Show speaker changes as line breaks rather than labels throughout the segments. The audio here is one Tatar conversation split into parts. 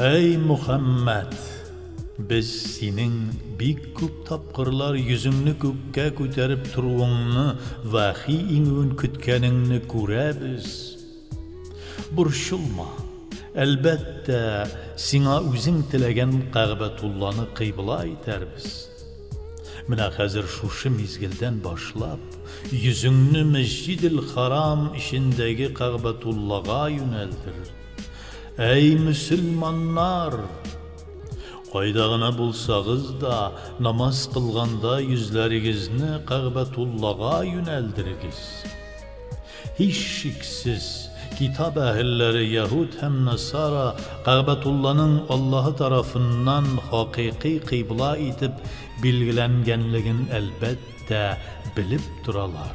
Әй Мөхәммәт! Без синең бик күп тапкырлар йөзеңне күккә күтәреп торуыңны, вәхи иңүен көткәнеңне күрәбез. Борчылма, әлбәттә, сиңа үзең теләгән Кәгъбәтулланы кыйбла итәрбез. Менә хәзер шушы мизгелдән башлап, йөзеңне Мәсҗидел-Харам эчендәге Кәгъбәтуллага юнәлдер. Әй, мөселманнар! Кайда гына булсагыз да, намаз кылганда йөзләрегезне Кәгъбәтуллага юнәлдерегез. Һичшиксез, Китап әһелләре, яһүд һәм насара, Кәгъбәтулланың Аллаһы тарафыннан хакыйкый кыйбла итеп билгеләнгәнлеген, әлбәттә, белеп торалар.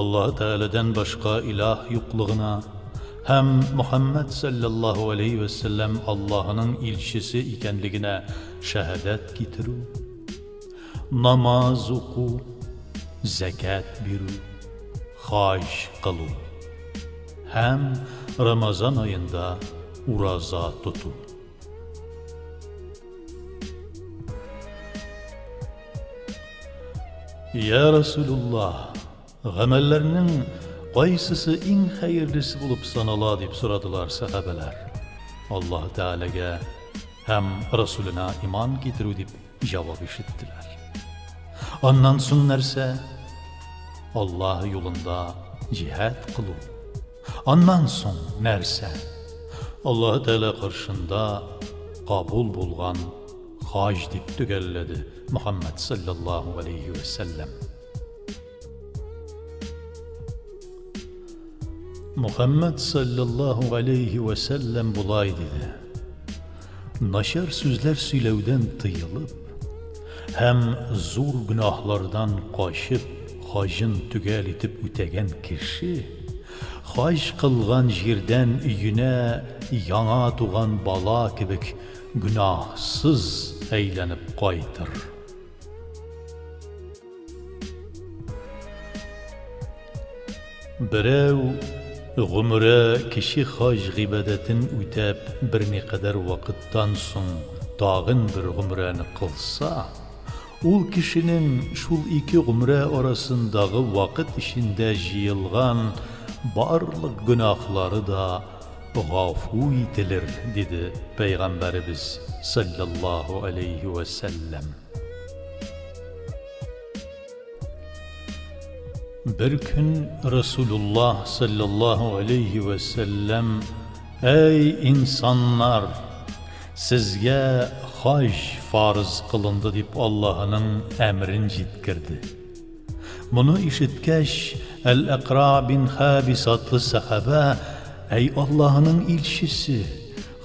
Аллаһы Тәгаләдән башка илаһ юклыгына һәм Мөхәммәд сәлләллаһу галәйһи вә сәлләм Аллаһының илчесе икәнлегенә шәһадәт китерү, намаз уку, зәкят бирү, хаҗ кылу һәм Рамазан аенда ураза тоту. Я Расулуллах, гамәлләрнең кайсысы иң хәерлесе булып санала дип сорадылар сахабәләр. Аллаһ Тәгаләгә һәм Расулына иман китерү дип җавап ишеттеләр. Аннан соң нәрсә? Аллаһ юлында җиһад кылу. Аннан соң нәрсә? Аллаһы Тәгалә каршында кабул булган хаҗ, дип төгәлләде Мөхәммәд саллаллаһу алейхи вә сәлләм. Мөхәммәд саллаллаһу алейхи вә сәлләм болай диде. Начар сүзләр сөйләүдән тыелып һәм зур гөнаһлардан качып, хаҗын төгәл итеп үтәгән кеше, хаҗ кылган җирдән өенә яңа туган бала кебек гөнаһсыз әйләнеп кайтыр. Берәү гомере кече хаҗ гыйбадәтен үтәп берникадәр вакыттан соң тагын бер гомрәне кылса, ул кешенең шул ике гомрә арасындагы вакыт эчендә җыелган барлык гөнаһлары да Гафу ителер, диде Пәйгамбәребез салләллаһу әләйһи вә сәлләм. Бер көн Расулуллаһ салләллаһу әләйһи вә сәлләм, Әй инсаннар! Сезгә хаҗ фарыз кылынды, дип Аллаһының әмерен җиткерде. Моны ишеткәч, Әл-Әкра бин Хәбис атлы сәхабә, Әй Аллаһының илчесе!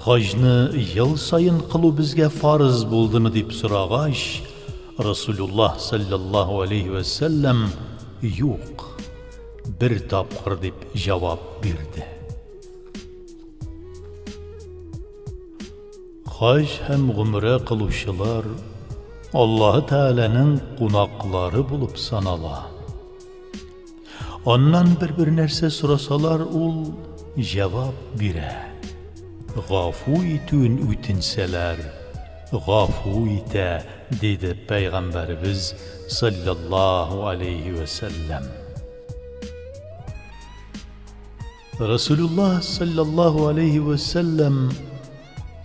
Хаҗны ел саен кылу безгә фарыз булдымы? дип сорагач, Расулуллаһ салләллаһу алейһи вә сәлләм, Юк, бер тапкыр, дип җавап бирде. Хаҗ һәм гомрә кылучылар Аллаһы Тәгаләнең кунаклары булып санала. Аннан бер-бер нәрсә сорасалар, ул җавап бирә. Гафу итүен үтенсәләр, гафу итә, диде Пәйгамбәребез салләллаһу алейһи вә сәлләм. Расулулла салләллаһу алейһи вә сәлләм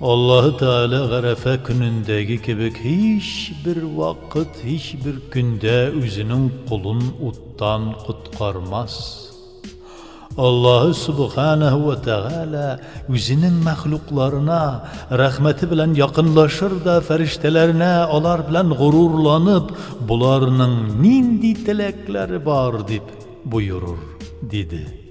Аллаһы Тәгалә Гарәфә көнендәге кебек һичбер вакыт, һичбер көндә үзенең колын уттан коткармас. Аллаһы Субханаһу вә Тәгалә үзенең мәхлукларына рәхмәте белән якынлашыр да фәрештәләренә алар белән горурланып, боларның нинди теләкләре бар, дип, Боерыр, диде.